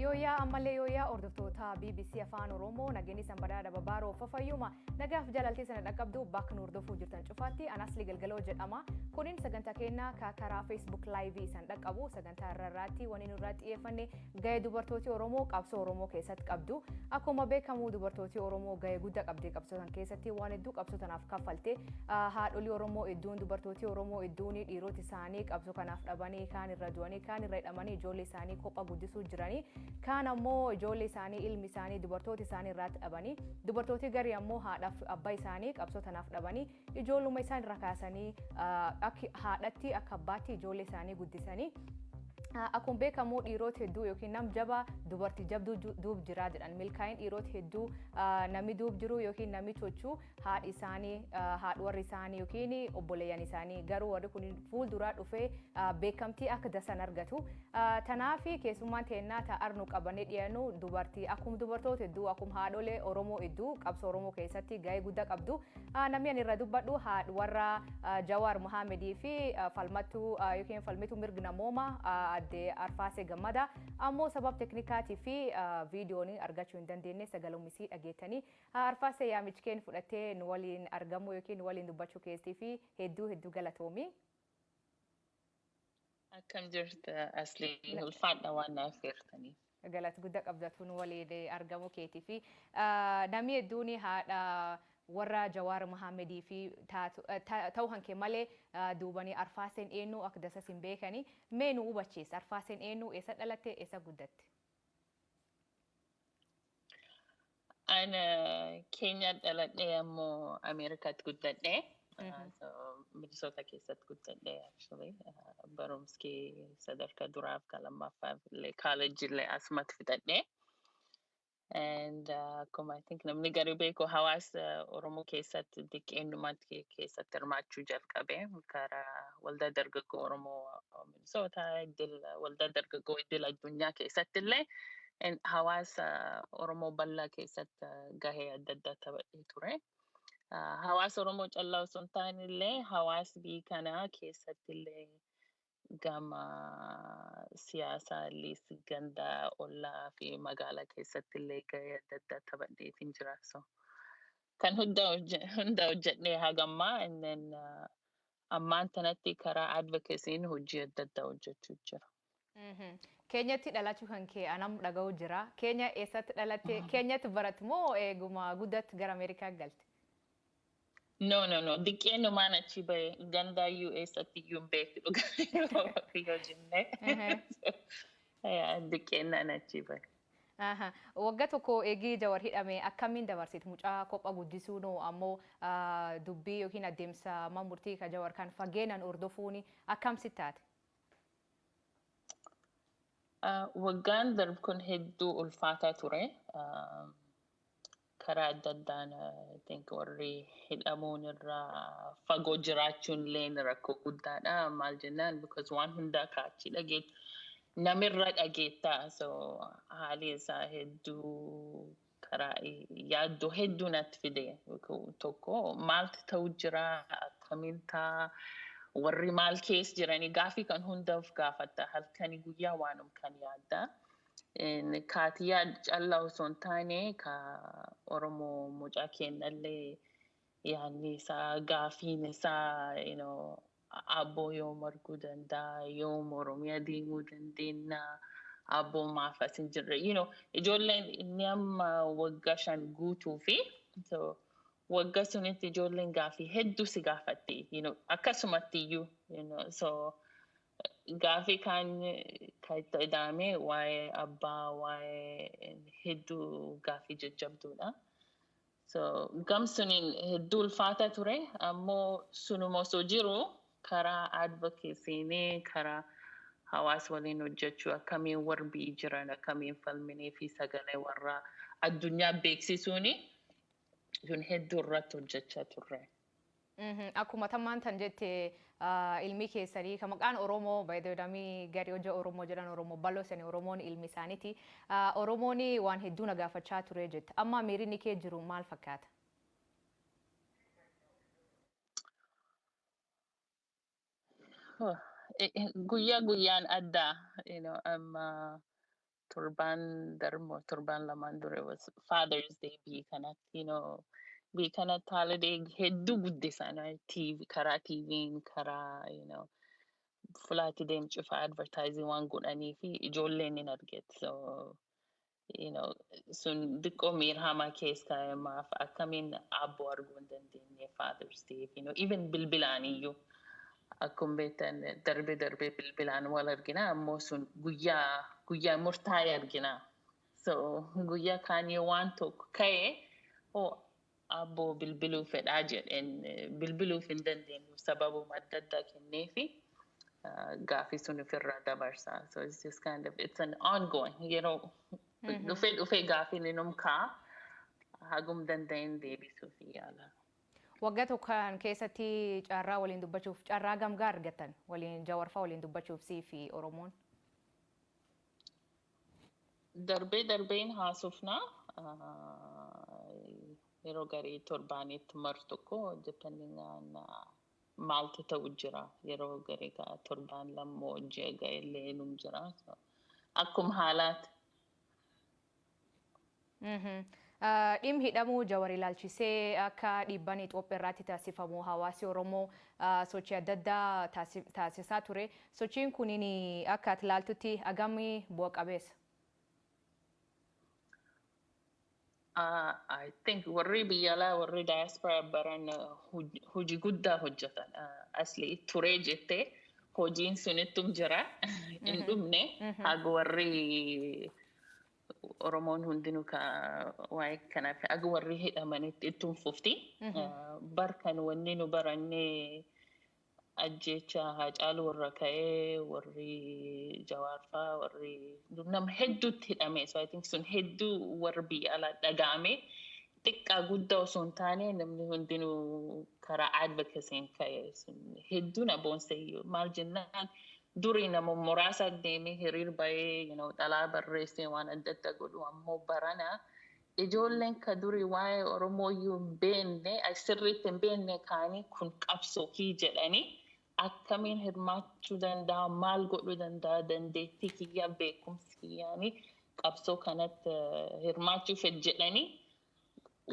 Yooyaa ammallee yooyaa hordoftoota BBC Afaan Oromoo nageenyi sanbadaa dababaa roofa fayyuma nagaaf jaalaltee sana dhaqqabdu bakka nu hordofuu jirtan cufaatti anasli galgaloo jedhama kunin sagantaa keenna ka karaa Facebook Live san dhaqqabu sagantaa irra irraatti wani nurraa xiyyeeffanne Ga'e dubartooti Oromoo qabsoo Oromoo keessatti qabdu akkuma beekamu dubartooti Oromoo ga'e gudda qabdee qabsoo tan keessatti waan hedduu qabsoo tanaaf kaffalte haadholii Oromoo idduun dubartooti Oromoo idduun dhiiroti isaanii qabsoo kanaaf dhabanii kaan irra du'anii kaan irra hidhamanii ijoollee isaanii kopha guddisuu jiranii kaan ammoo ijoollee isaanii ilmi isaanii dubartooti isaanii irraatti dhabanii dubartooti garii ammoo haadhaaf abbaa isaanii qabsoo tanaaf dhabanii Ijoolluma isaan irra kaasanii akka haadhatti akka abbaatti ijoollee isaanii guddisanii Akkuma beekamu dhiirota hedduu yookiin nam jabaa dubartii jabduu duub jiraa jedhan milkaa'in dhiirota hedduu namni duub jiru yookiin namni chochuu haadhi isaanii haadhi warri isaanii yookiin obboleeyyan isaanii garuu warri kun fuulduraa dhufee beekamtii akka dasan argatu. Tanaaf keessummaan teennaa ta'ar nu qabannee dhiyaannu dubartii akkuma dubartoota hedduu akkuma haadholee Oromoo hedduu qabsoo Oromoo keessatti gahee guddaa qabdu Namni ani irra dubbadhu haadh warra Jawaar Mohaamedii fi falmattuu yookiin falmituu mirgi namooma adde Arfaasee Gammada ammoo sabab teknikaatii fi viidiyoon argachuu hin dandeenye sagalummisii dhageettanii Arfaasee yaamichkeen fudhattee nu waliin argamuu yookiin nu waliin dubbachuu keessii fi hedduu hedduu galatoomi. Akkam jirta Asli ulfaadha waan naaf affeertaniif. Galat gudda qabda tun waliin argamu keetii fi namni hedduun haadha warra Jawaar Mahaamedii fi ta'u hanke malee duubanii arfaaseen eenyu akka dasas hin beekani mee nu hubachiis arfaaseen eenyu eessa dhalatte eessa guddatte. An Keenyaa dhaladhee ammoo Ameerikaatti guddadhe. Minisoota keessatti guddadhe actually. Barumskee sadarkaa duraaf kan lammaffaa illee kaalejii illee asumatti fixadhe. And akkuma I think namni gari beeku hawaasa Oromoo keessatti diqqeenyumatti keessatti hirmaachuu jalqabe karaa waldaa dargaggoo Oromoo Soota iddil waldaa dargaggoo iddil addunyaa keessatti illee hawaasa Oromoo bal'aa keessatti gahee adda addaa taphatee ture. Hawaasa Oromoo callaa osoo hin taane illee hawaasa biyya kanaa keessatti illee gama siyaasaa illee gandaa ollaa fi magaalaa keessatti illee gahee adda addaa taphatee hin jira. Kan hunda hojjedhee hagammaa inni ammaan tanatti karaa advocacy'n hojii adda addaa hojjechuu jira. Mhm. Keenyatti dhalachuu kan kee anam dhaga'u jira. Keenya eessatti dhalatte? Keenyatti baratte moo eeguma guddatte gara Ameerikaa galte? No, no, no. Diqqeennumaan achi bahe gandaa iyyuu eessatti iyyuu hin beeku dhugaa yoo jennee. Ehe. Yaa, Diqqeennaan achi bahe. Aha wagga tokko egii jawar hidhame akkammin dabarsit muca kopha guddisuu no ammo dubbii yookiin addemsa man murtii ka jawar kan fageenan hordofuuni akkam sit taate. Waggaan darb kun hedduu ulfaataa ture. karaa adda addaan I think warri hidhamuun irraa fagoo jiraachuun illee rakkoo guddaadha. Maal jennaan because waan hundaa kaachii dhageet namirra dhageettaa so haalii isaa hedduu karaa yaaddoo hedduu natti fide tokko maaltu ta'u jira akkamiin ta'a warri maal keessa jiranii gaafii kan hundaaf gaafatta halkanii guyyaa waanum kan yaaddaa. kaatiyaa callaa osoo hin taane ka Oromoo mucaa keennallee yaanni isaa gaafiin isaa you know, abboo yoom arguu danda'a yoom Oromiyaa deemuu dandeenya abboo maaf as hin jirre you know, ijoolleen inni amma waggaa shan guutuu fi so, wagga sunitti ijoolleen gaafii hedduu si gaafatte you know, akkasumatti iyyuu you know, so, Gaafii kaan kan itti ida'ame waa'ee abbaa waa'ee hedduu gaafii jajjabduudha. So gam suniin hedduu ulfaata ture ammoo sunuma osoo jiru karaa advocacy'n karaa hawaas waliin hojjechuu akkamiin warbii jiran akkamiin falminee fi sagalee warraa addunyaa beeksisuuni sun hedduu irratti hojjechaa turre. Akkuma tammaan tan jette ilmi keessanii ka maqaan Oromoo by the way namni gari hojja Oromoo jedhan Oromoo baloo sani Oromoon ilmi isaaniti. Oromoon waan hedduu na gaafachaa ture jette. Amma miirinni kee jiru maal fakkaata? Guyyaa guyyaan adda. You know, amma torbaan darbo torbaan lamaan dure was Father's Day biyya kanatti you know biyya kanatti holiday hedduu guddisan right? TV karaa TV'n karaa you know fulaatti deemcufa advertising waan godhanii fi ijoolleen hin arget so you know sun diqqoo miirhamaa keessa kaa'e maaf akkamiin abboo arguu hin dandeenye Father's Day you know even bilbilaan iyyuu Akkum beektan darbee darbee bilbilaan wal argina ammoo sun guyyaa guyyaa murtaa'e argina. So guyyaa kaan yoo waan tokko ka'e hoo abboo bilbiluu fedhaa jedheen bilbiluuf hin dandeenyu sababuma adda addaa kenneefi gaafii sun ofirraa dabarsa. So it's just kind of it's an ongoing yeroo dhufee dhufee gaafiin inum ka'a hagum danda'een deebisuuf yaala. Wagga tokko kan keessatti carraa waliin dubbachuuf carraa gamgaa argattan waliin jawarfaa waliin dubbachuuf sii fi Oromoon? Darbee darbeen haasofna yeroo garii torbaanitti mar tokko depending on maaltu ta'u jira yeroo garii ka torbaan lammoo ji'a ga'ellee num jira akkuma haalaati. Dhim hidhamuu Jawar ilaalchisee akka dhiibban Itoophiyaa irraatti taasifamu hawaasi Oromoo sochii adda addaa taasisaa ture. Sochiin kunin akka ati ilaaltutti agam bu'a qabeessa? I think warri biyya alaa warri diaspora baran hojii guddaa hojjetan. Asli turee jettee hojiin sunittum jira hin dhumne haga warri Oromoon hundinuu ka waa'ee kanaaf aga warri hidhamanitti ittuun fufti. Bar kan wanni nu barannee ajjeecha haacaaluu irra ka'ee warri jawaarfaa warri nama hedduutti hidhame. So I think sun hedduu warri biyya alaa dhaga'amee Xiqqaa guddaa osoo hin taane namni hundinuu karaa advocacy'n ka'e hedduu na boonse maal jennaan durii nama muraasa deemee hiriir ba'ee you know, xalaa barreessee waan adda addaa godhu ammoo barana ijoolleen ka durii waa'ee Oromoo iyyuu hin beekne ay sirriitti hin beekne kaanii kun qabsoo kii jedhanii akkamiin hirmaachuu danda'a, maal godhuu danda'a, dandeettii kiyyaa, beekumsi kiyyaani qabsoo kanatti hirmaachuu fedh jedhanii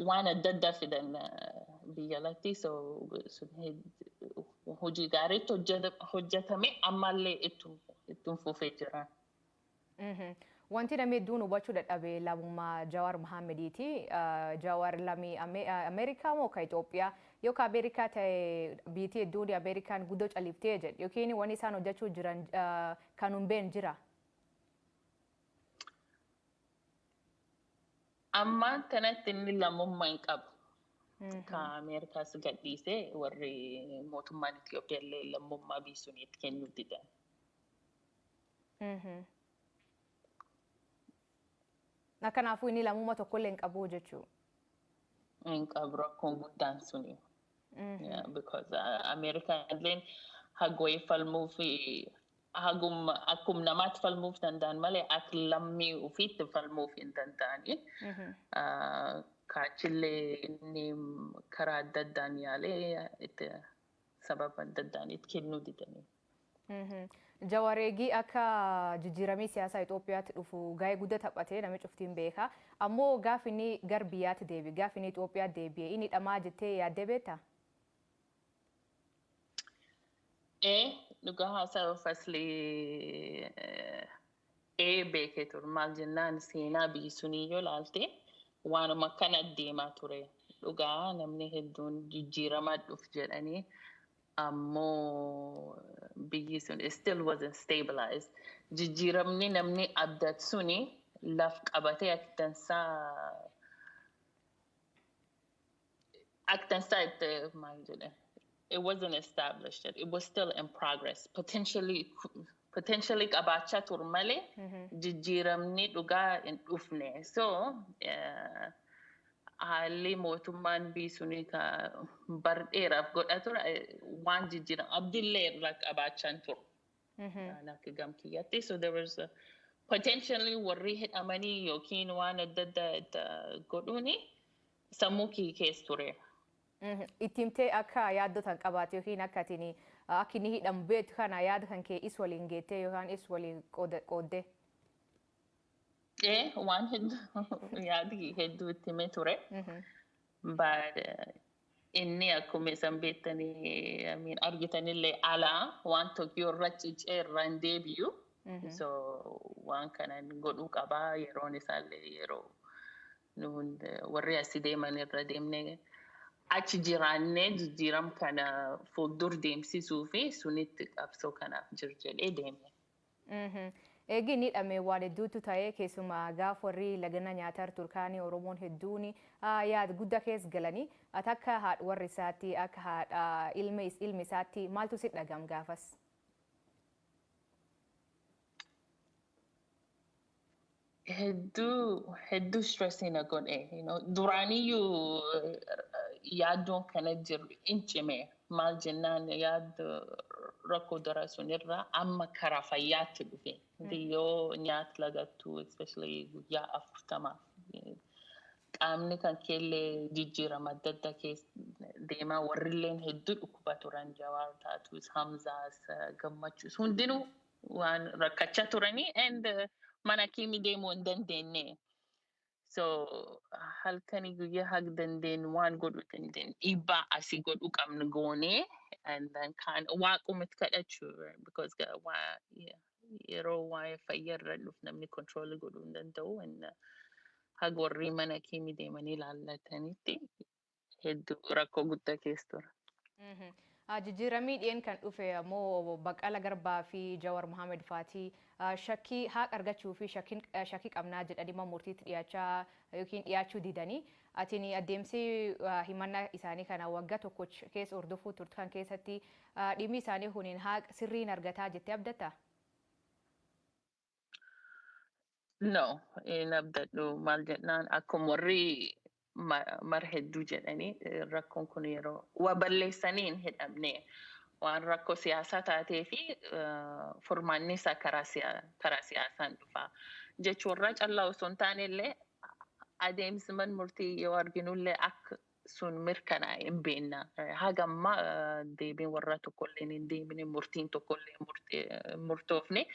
waan adda addaa fidan biyya alatti so hojii gaariitti hojjetame ammallee ittum fufee jira. Wanti namni hedduun hubachuu dadhabe lamummaa Jawaar Mahaammediiti. Jawaar lamii Ameerikaa moo ka Itoophiyaa yoo ka Ameerikaa ta'e biitii hedduun Ameerikaan guddoo califtee jedhe yookiin wanni isaan hojjechuu jiran kan hin beekne jira. Amma tanatti inni lammummaa hin qabu. Ka Ameerikaas gadhiisee warri mootummaan Itoophiyaa illee lammummaa biisuun itti kennuu didan. Kanaafuu inni lammummaa tokkollee hin qabu jechuu. Hin qabu rakkoon guddaan suni. Because Ameerikaan hagooyi falmuu fi hagumma akkuma namaatti falmuuf danda'an malee akka lammii ofiitti falmuuf hin danda'ani. Kaachillee inni karaa adda addaan yaalee itti sababa adda addaan itti kennuu didanii. Jawar eegii akka jijjiiramii siyaasaa Itoophiyaatti dhufu gaa'ee gudda taphatee nami cuftiin beeka. Ammoo gaaf inni gar biyyaatti deebi gaaf inni Itoophiyaa deebi'e inni dhamaa jettee yaaddee beektaa? Ee dhugaa haasa'uuf asli ee beekee ture maal jennaan seenaa biyyi sunii yoo laalte waanuma akkana deemaa ture dhugaa namni hedduun jijjiiramaa dhuf jedhanii ammoo biyyi sun it still wasn't stabilized. Jijjiiramni namni abdat suni laf qabatee ak dansaa ak dansaa itti maal jedhe it wasn't established yet. It was still in progress. Potentially potentially qabaachaa turu malee jijjiiramni dhugaa hin dhufne. So haalli mootummaan biisunii ka bar dheeraaf godha ture waan jijjiiram abdillee irraa qabaachaan turu. Waan akka gam kiyyatti. So there was a- potentially warri hidhamanii yookiin waan adda addaa itti godhuuni sammuu kiyya keessa ture. itti himtee akka yaaddoo tan qabaate yookiin akka atin akka inni hidhamu beektu kana yaada kan kee is waliin geettee yookaan is waliin qooda- qooddee. Ee, waan hedduu yaadi hedduu itti himee ture. But eh, inni akkuma isan beektanii I mean, argitanillee alaa waan Tokiyoo irra cicee irra hin deebi'u. So waan kanan godhuu qabaa yeroon isaallee yeroo Nuun warri asi deeman irra deemnee achi jiraannee jijjiiram kana fuuldur deemsisuu fi sunitti qabsoo kanaaf jir jedhee deeme. Eegi inni dhame waan hedduuttu taye keessuma gaaf warri lagana nyaatar turkaani Oromoon hedduun yaad gudda kees galani. At akka haadh warr isaatti akka haadha ilme ilmi isaatti maaltu sit dhagam gaafas? hedduu hedduu stress na godhe you know, duraaniyyuu eh, yaaddoon kana jiru in cime maal jennaan yaaddo rakkoo dura sunirraa amma karaa fayyaatti dhufe biyyoo nyaata lagattuu especially guyyaa afurtamaaf eh, qaamni kan keellee jijjiirama adda addaa keessa deemaa warrilleen hedduu dhukkuba turan jawaar taatuus hamzaas eh, gammachuus hundinuu waan rakkachaa turanii and mana kiimi deemuu hin dandeenye. So halkanii guyyaa hag dandeenyu waan godhuu dandeenyu dhiibbaa asii godhuu qabnu goonee and then kaan waaqumatti kadhachuu because ga- waa- yeah, yeroo waa'ee fayyaa irra dhufu namni control godhuu hin danda'u and uh, hag warri mana kiimi deemanii laallatanitti hedduu rakkoo guddaa keessa ture. Mhm. Ah, Jijjiiramii dhiyeen kan dhufe ammoo Baqqala Garbaa fi Jawar Mohammed faati ah, shakkii haaq argachuu fi shakkiin- eh, shakkii qabnaa jedhanii mana murtiitti dhiyaachaa yookiin dhiyaachuu didanii atiin adeemsi ah, himannaa isaanii kana waggaa tokkoch keessa hordofuu turte kan keessatti ah, dhimmi isaanii kuniin haaq sirriin argataa jettee abdatta? No, hin abdadhu. Maal jennaan akkuma warri ma- mar hedduu jedhanii eh, rakkoon kun yeroo waa balleessanii hin hidhamne waan rakkoo siyaasaa taatee fi eh, furmaanni isaa karaa siya- karaa siyaasaan dhufa jechuurraa callaa osoo hin taane illee adeemsi man murtii yoo arginullee akka sun mirkanaa'e hin beenna. Haga ammaa deebiin warraa tokkolleen hin deebine, murtiin tokkollee murtoofne.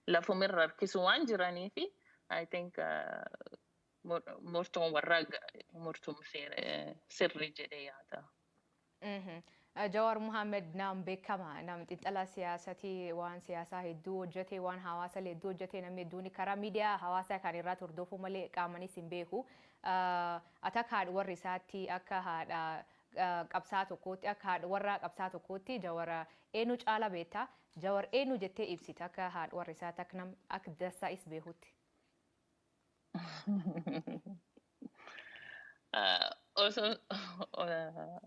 Lafuma irra harkisu waan jiraniif I think murtoon warraa murtuun sirrii jedhee yaada. Jawaar Mohammed nam bekkama, nam xinxala siyaasati, waan siyaasaa hedduu hojjate, waan hawaasale hedduu hojjate, namni hedduuni karaa miidiyaa hawaasaa kaan irraati hordofuu malee qaamanis hin beeku. Ati akka haadha warra isaatti, akka haadha qabsaa'aa tokkootti, akka haadha warraa qabsaa'aa tokkootti Jawara eenu caala beetta? Jawar eenu jettee ibsita akka haadha warra isaatti, akka nam akka dansaa is beekutti? Uh, also, uh,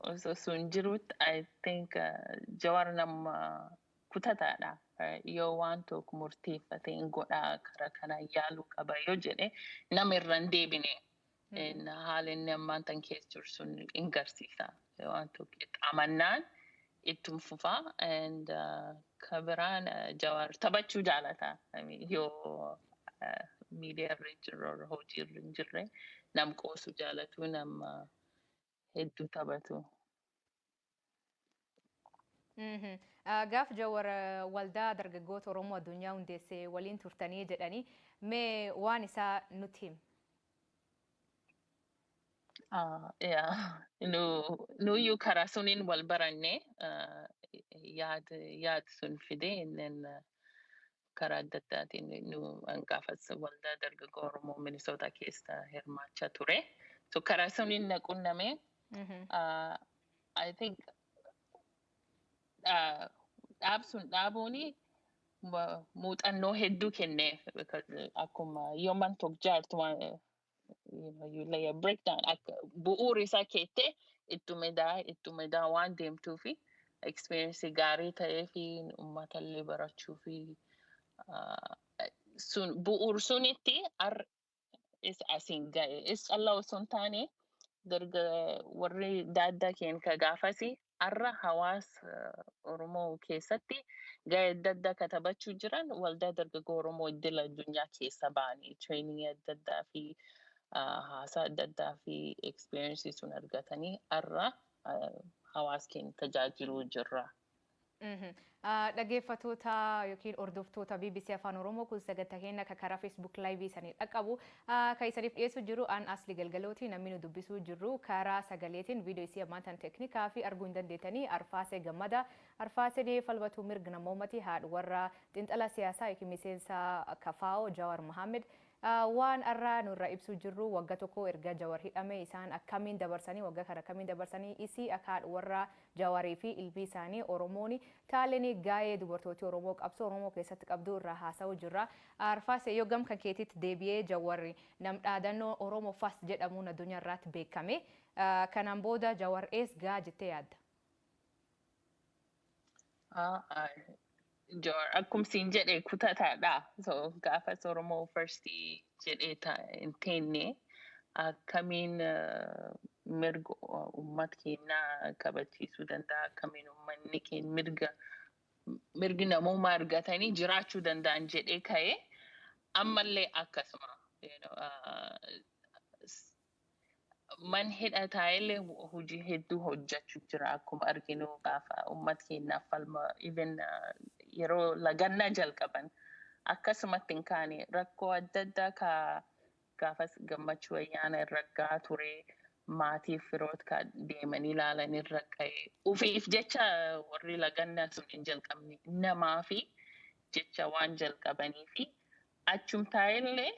also sun jirutti I think uh, Jawar nama kutataadha. Uh, yoo waan tokko murteeffate hin godhaa karaa kana yaaluu qaba yoo jedhe nama irra hin deebine. Haala inni ammaan tan keessa jiru sun hin garsiisa. Waantu qixxaamannaan ittum fufa and ka biraan Jawaar taphachuu jaalata. I mean, Yoo miidiyaa irra hin jirre or hojii irra hin jirre nam qoosu jaalatu nam ah, hedduu taphatu. Mhm. Ah, Gaaf Jawar ah, waldaa dargaggoota Oromoo addunyaa hundeesse waliin turtanii jedhanii mee waan isaa nutti him. Ah, yeah. Nu, nu yu kara sunin wal baranne ah, yaad yaad sun fide innen ah, karaa adda addaatiin nu hangaafas waldaa dargaggoo Oromoo Minnesota keessa hirmaachaa ture. So karaa sunin na qunname. Mhm. Uh, I think uh, dhaab sun dhaabuuni muuxannoo hedduu kenne akkuma yoman tokko jaartu breakdown bu'uuri isaa keette ittume daa ittume daa waan deemtuu fi experience gaarii ta'ee fi uummata illee barachuu fi sun bu'uur sunitti is asiin ga'e is callaa osoo hin taane darga warri daaddaa keen ka gaafasi arra hawaasa Oromoo keessatti ga'ee adda addaa katabachuu jiran waldaa dargaggoo Oromoo iddil addunyaa keessa ba'anii treeningii adda addaa fi ah, haasaa adda addaa fi experiences sun argatanii arra ah, hawaasa keenya tajaajiluu jirra. Dhageeffatoota yookiin hordoftoota BBC Afaan Oromoo kun sagantaa keenya akka karaa Facebook Live isanii dhaqqabu kan isaniif dhiyeessu jiru an Asli Galgalooti namni nu dubbisuu jirru karaa sagaleetiin viidiyoo isii ammaan tan teeknikaa fi arguu hin dandeettanii Arfaasee Gammada Arfaaseen falmatuu mirg namoomati haadh warra xinxala siyaasaa yookiin miseensa kafaa'oo Jawaar Mohaammed waan har'aa nurra ibsuu jirru wagga tokko erga Jawar hidhame isaan akkamiin dabarsanii wagga kana akkamiin dabarsanii isii akka haadh warra Jawari fi ilmii isaani oromooni taaleni gaayee dubartooti oromoo qabsoo oromoo keessatti qabduu irraa haasawu jirra Arfaase yoo gam kan keetiitti deebiyee jawari nam dhaadano oromo fast jedhamuun adunya irraatti beekame Kanan booda jawar eess ga'a jettee yaadda? Jawar akkum siin jedhe kutataadha. So gaafas Oromoo first jedhee ta hin teenne akkamiin mirga ummat keennaa kabachiisuu danda'a akkamiin ummanni keen mirga mirgi namoomaa argatanii jiraachuu danda'an jedhee ka'ee ammallee akkasuma you know, uh, man hidha taa'ellee hojii hedduu hojjechu jira akkuma arginu gaafa uummat keenyaaf falma even yeroo lagannaa jalqaban akkasumatti hin kaane rakkoo adda addaa ka gaafas gammachuu ayyaana irra gahaa ture maatiif firoot ka deemanii ilaalan irra ka'e ufiif jecha warri lagannaa sun hin jalqabne namaa fi jecha waan jalqabanii fi achum taa'ellee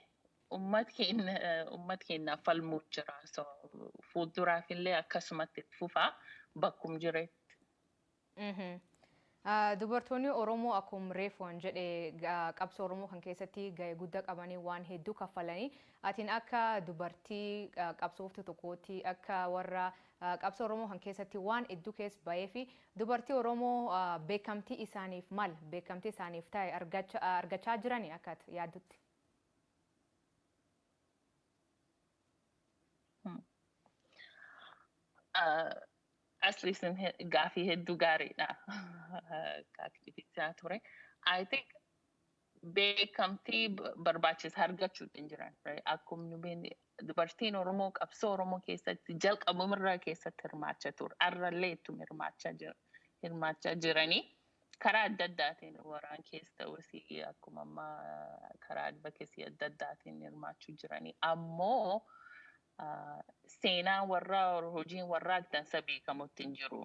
Ummat keenna ummat keennaaf falmuuf jira so fuulduraaf illee akkasumatti itti fufa bakkum jiretti. Mhm. Ah, Dubartoonni Oromoo akkum reefu an jedhe ga- qabsoo Oromoo kan keessatti ga'e guddaa qabanii waan hedduu kaffalanii atiin akka dubartii ah, qabsooftuu tokkootti akka warra ah, qabsoo Oromoo kan keessatti waan hedduu keessa ba'ee fi dubartii Oromoo ah, beekamtii isaaniif mal beekamtii isaaniif ta'e argacha- ah, argachaa jirani akka ati yaaddutti. Hmm. Ah, Asli sun he- gaafii hedduu gaariidha. Gaaffiichaa ture. I think beekamtii b- barbaachisu argachuu hin jiran. right? Akkuma nu beekne dubartiin Oromoo qabsoo Oromoo keessatti jalqabumarraa keessatti hirmaachaa ture. Har'allee ittuma hirmaachaa jira. Hirmaachaa jiranii karaa adda addaatiin waraan keessa ta'us akkuma amma karaa advocacy adda addaatiin hirmaachuu jiranii ammoo seenaan warraa hojiin warraa dansa beekamutti hin jiru.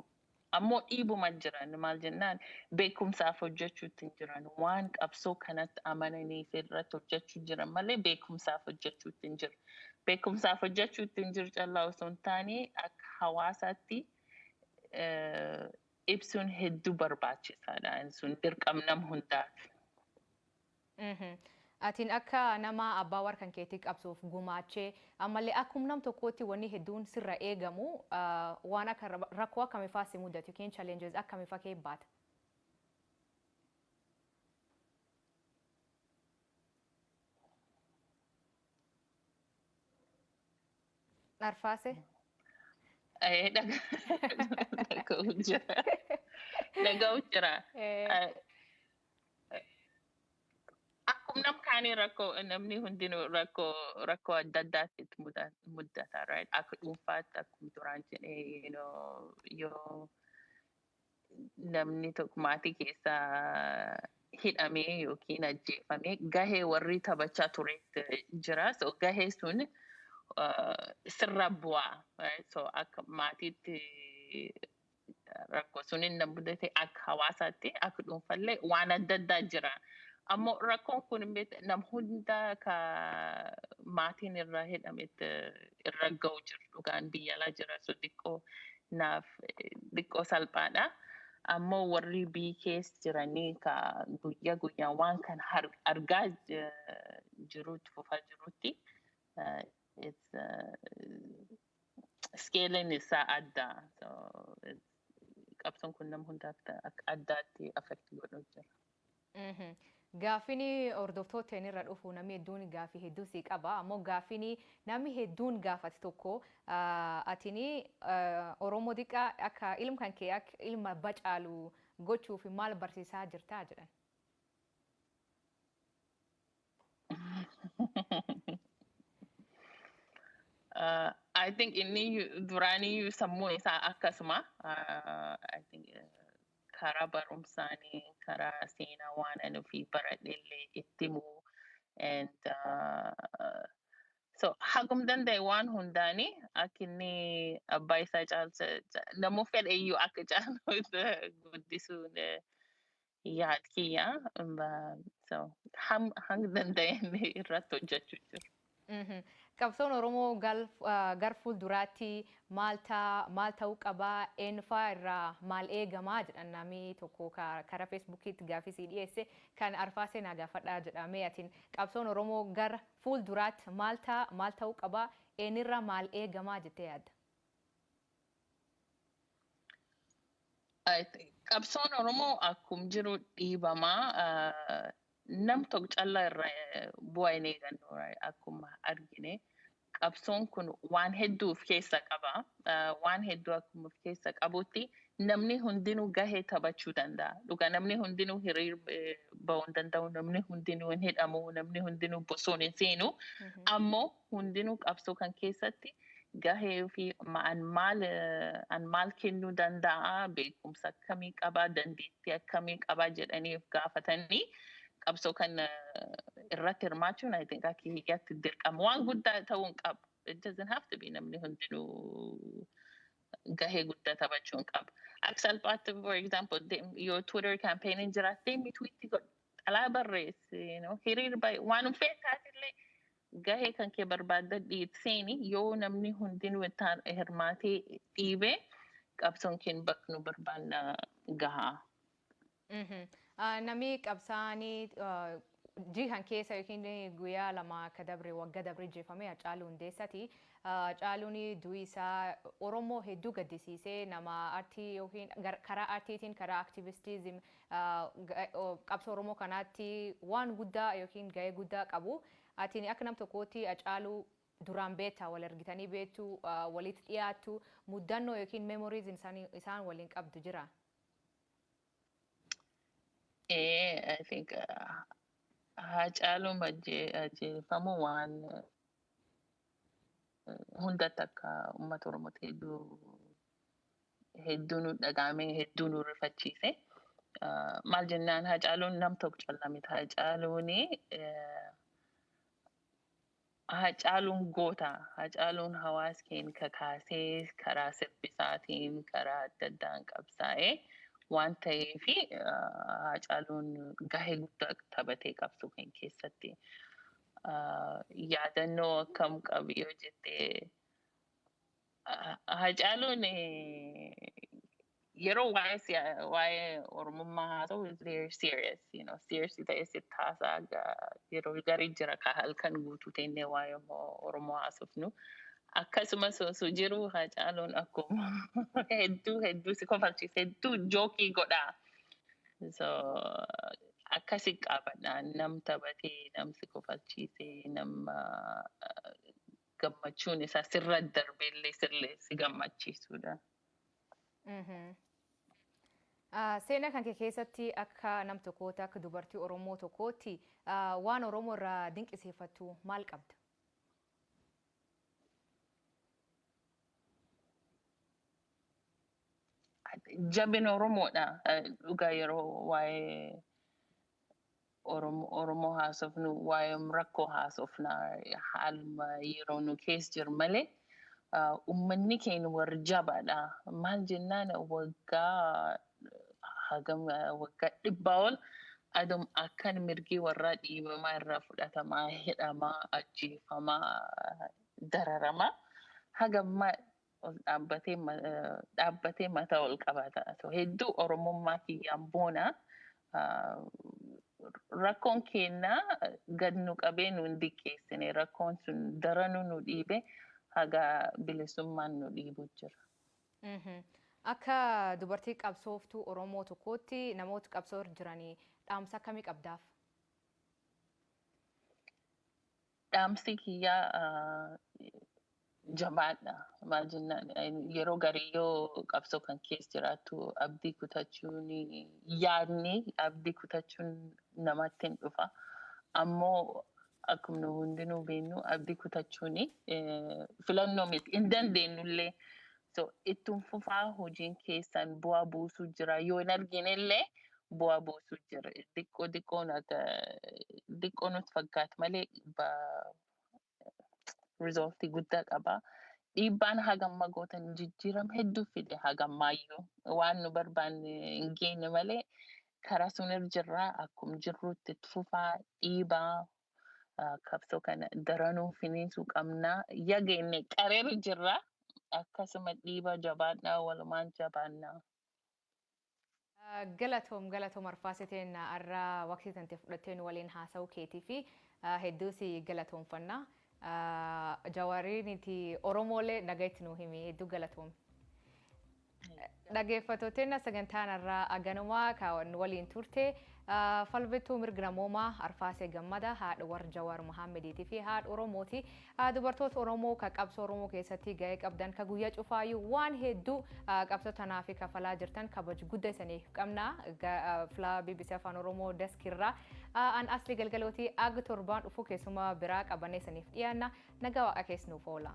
Ammoo dhiibuma jiran maal jennaan beekumsaaf hojjechuutti hin jiran waan qabsoo kanatti amananiif irratti hojjechuu jiran malee beekumsaaf hojjechuutti hin jiru. Beekumsaaf hojjechuutti hin jiru callaa osoo hin taane akka hawaasaatti ibsuun hedduu barbaachisaadha. Sun dirqam nam hundaati. Atin akka nama abbaa war kan keetii qabsoof gumaachee ammallee akkum nam tokkootti wanni hedduun sirra eegamu waan akka rakkoo akkamifaa si mudatu yookiin challenges akkamifa kee baata? Arfaase. Eh, dhaga- dhaga'u jira. Dhaga'u jira. Eh, Eh, Akkuma nam kaanii rakkoo namni hundinuu rakkoo rakkoo adda addaatti itti muda- muddata right? Akka dhuunfaatti akkuma duraan jedhee you know, yoo namni tokko maatii keessa hidhamee yookiin ajjeefamee gahee warri taphachaa ture jira. So gahee sun sirra bu'aa. So akka maatiitti rakkoo sun hin mudate akka hawaasaatti akka dhuunfallee waan adda addaa jira. Ammoo rakkoon kun nam hunda ka maatiin irraa hidhametti irra ga'u jiru dhugaan biyya alaa jira so xiqqoo naaf xiqqoo salphaadha. Ammoo warri biyyi keessa jiranii ka guyya guyyaan waan kan argaa jiruutti fufaa jiruutti skeeliin isaa adda. Qabsoon kun nama hundaaf addaatti affekti godhuu jira. Gaafini hordoftooten irra dhufu nami hedduun gaafi hedduu sii qaba ammoo gaafini nami hedduun gaafat tokko atini oromo diqa akka ilm kanke ak ilm abba caalu gochuuf maal barsiisaa jirtaa jedhan. Uh, I think inni duraaniyyuu sammuun isaa akkasuma. Uh, I think uh, karaa barumsaanii karaa seenaa waan ani ofii baradhe illee itti himuu and uh, so hagum danda'e waan hundaani akka inni abbaa isaa caalcha ca- namuu fedhe iyyuu akka caalu itti guddisuun eh, yaad kiyya Ba- so ham- hanga danda'e irratti hojjechuu jiru. Qabsoon Oromoo gar fuulduraatti maal taa, maal ta'uu qaba, eenyufaa irraa maal eegamaa jedhan naami tokko ka karaa Feesbuukiitti gaafii sii dhiyeesse kan arfaasee naa gaafadhaa jedha mee atin qabsoon Oromoo gar fuulduraatti maal taa, maal ta'uu qaba, eenyirraa maal eegamaa jettee yaadda? Qabsoon Oromoo akkum jiru dhiibamaa Nam tok calla irra bua ineegannu akkuma argine qabsoon kun waan heddu uf keessa qaba waan heddu akkuma uf keessa qabutti namni hundinu gahe tabachu danda dhuga namni hundinu hiriir bahu hin dandau namni hundinu hin hidhamu namni hundinu bosoon hin seenu ammo hundinuu qabsoo kan keessatti gahee ofii an maal an maal kennuu danda'a beekumsa akkamii qabaa dandeettii akkamii qabaa jedhanii of gaafatanii qabsoo kan irratti hirmaachuun I think akka hiyyaatti dirqama waan guddaa ta'uu hin qabu. It doesn't have to be namni hundinuu gahee guddaa taphachuu hin qabu. Akka salphaatti for example dem- yoo Twitter campaignin jiraattee mi tweetti godhi xalaa barreessi you know, hiriir baay'ee waan feetaas illee Gahee kan kee barbaaddadhii itti seeni yoo namni hundinuu ittaan hirmaatee dhiibe qabsoon keen bakka nu barbaanna gahaa. Mhm. Ah, Namni qabsaa'anii ah, jihan keessa yookiin guyyaa lama akka dabre wagga dabre jeefame Hacaaluu Hundeessati. Ah, Hacaaluun du'i isaa Oromoo hedduu gaddisiisee nama artii yookiin gar- karaa artiitiin karaa aktivistiizim qabsoo oromoo kanaatti waan guddaa yookiin gahee guddaa qabu. Atini akka nam tokkootti Hacaaluu duraan beetta, wal argitanii beettu, walitti dhiyaattu, muddannoo yookiin memories isaan isaan waliin qabdu jira? Ee, I think uh, Haacaaluun ajje- ajjeefamuu waan uh, hunda takka uummata Oromootti hedduu hedduu nu dhaga'ame hedduu nu rifachiise maal jennaan hacaaluun nam tokko calla miti hacaaluun hacaaluun goota hacaaluun hawaas keen kakaasee karaa sirbisaatiin karaa adda addaan qabsaa'ee waan ta'eef hacaaluun gahee guddaa taphatee qabsoo kan keessatti yaadannoo akkam qabu yoo jettee Hacaaluun yeroo waa'ee waa'ee oromummaa haa ta'u is very serious you know serious ta'e sitti haasaa yeroo garii jira ka halkan guutuu teennee waa'ee oromoo haasofnu akkasumas osoo jiru hacaaluun akkuma hedduu hedduu si kofalchiisa hedduu jookii godhaa so akkasi qaabadha nam taphatee nam si kofalchiisee nam gammachuun isaa sirra darbeellee sirlee si gammachiisuudha. Seenaa kan kee keessatti akka nam tokkoota akka dubartii Oromoo tokkootti waan Oromoo irraa dinqisiifattu maal qabda? Jabina Oromoodha. Dhugaa yeroo waa'ee Oromo Oromo haasofnu waayom rakkoo haasofna haaluma yeroo nu kees jir male ummanni keen war jabaadha maal jennaan waggaa hagam waggaa dhibbaa ol adom akkan mirgii warraa dhiibamaa irraa fudhatamaa hidhamaa ajjeefamaa dararamaa hagamma ol dhaabbatee ma- eh, dhaabbatee mataa ol qabata. So, hedduu Oromummaa kiyyaan boona. Ah, Rakkoon keenya gad nu qabee nu hin diqqeessine. Rakkoon sun daranuu nu dhiibe haga bilisummaan nu dhiibu jira. Mhm. Akka dubartii qabsooftuu Oromoo tokkootti namoota qabsoo irra jiranii dhaamsa akkamii qabdaaf? Dhaamsi kiyyaa jabaadha. Maal jennaan yeroo garii yoo qabsoo kan keessa jiraattu abdii kutachuun yaadni abdii kutachuun namatti hin dhufa. Ammoo akkuma nu hundinuu beeknu abdii kutachuun filannoo miti. Hin dandeenyullee So ittun fufaa hojiin keessan bu'aa buusuu jira yoo hin arginellee bu'aa buusuu jira diqqoo diqqoo nata diqqoo nutti fakkaatu malee ba rizooltii guddaa qaba. Dhiibbaan hagamma gootan jijjiiram hedduu fide hagammaayyuu waan nu barbaanne hin geenye malee karaa sun irra jirra akkum jirruutti itti fufaa dhiibaa qabsoo kana daranuu finiinsuu qabnaa yageenne qareeru jirra akkasuma dhiiba jabaadhaa walumaan jabaannaa. Galatoom galatoom arfaasee teenna arra waqtii tante fudhattee nu waliin haasa'uu keetii fi hedduu si galatoomfanna. Jawaariiniti Oromoolee nagayatti nu himi hedduu galatoomi. Dhageeffattooteenna sagantaan har'aa aganumaa ka nu waliin turte falbittuu mirg namoomaa Arfaasee Gammada haadh war Jawaar Mohaammeediitii fi haadh Oromooti. Dubartoota Oromoo ka qabsoo Oromoo keessatti ga'ee qabdan ka guyyaa cufaayyuu waan hedduu qabsoo tanaaf kafalaa jirtan kabaj gudda isaniif qabna. Flaa BBC Afaan Oromoo Desk irraa an asli galgalooti ag torbaan dhufuu keessuma biraa qabannee isaniif dhiyaanna. Nagaa waaqa kees nuuf oola.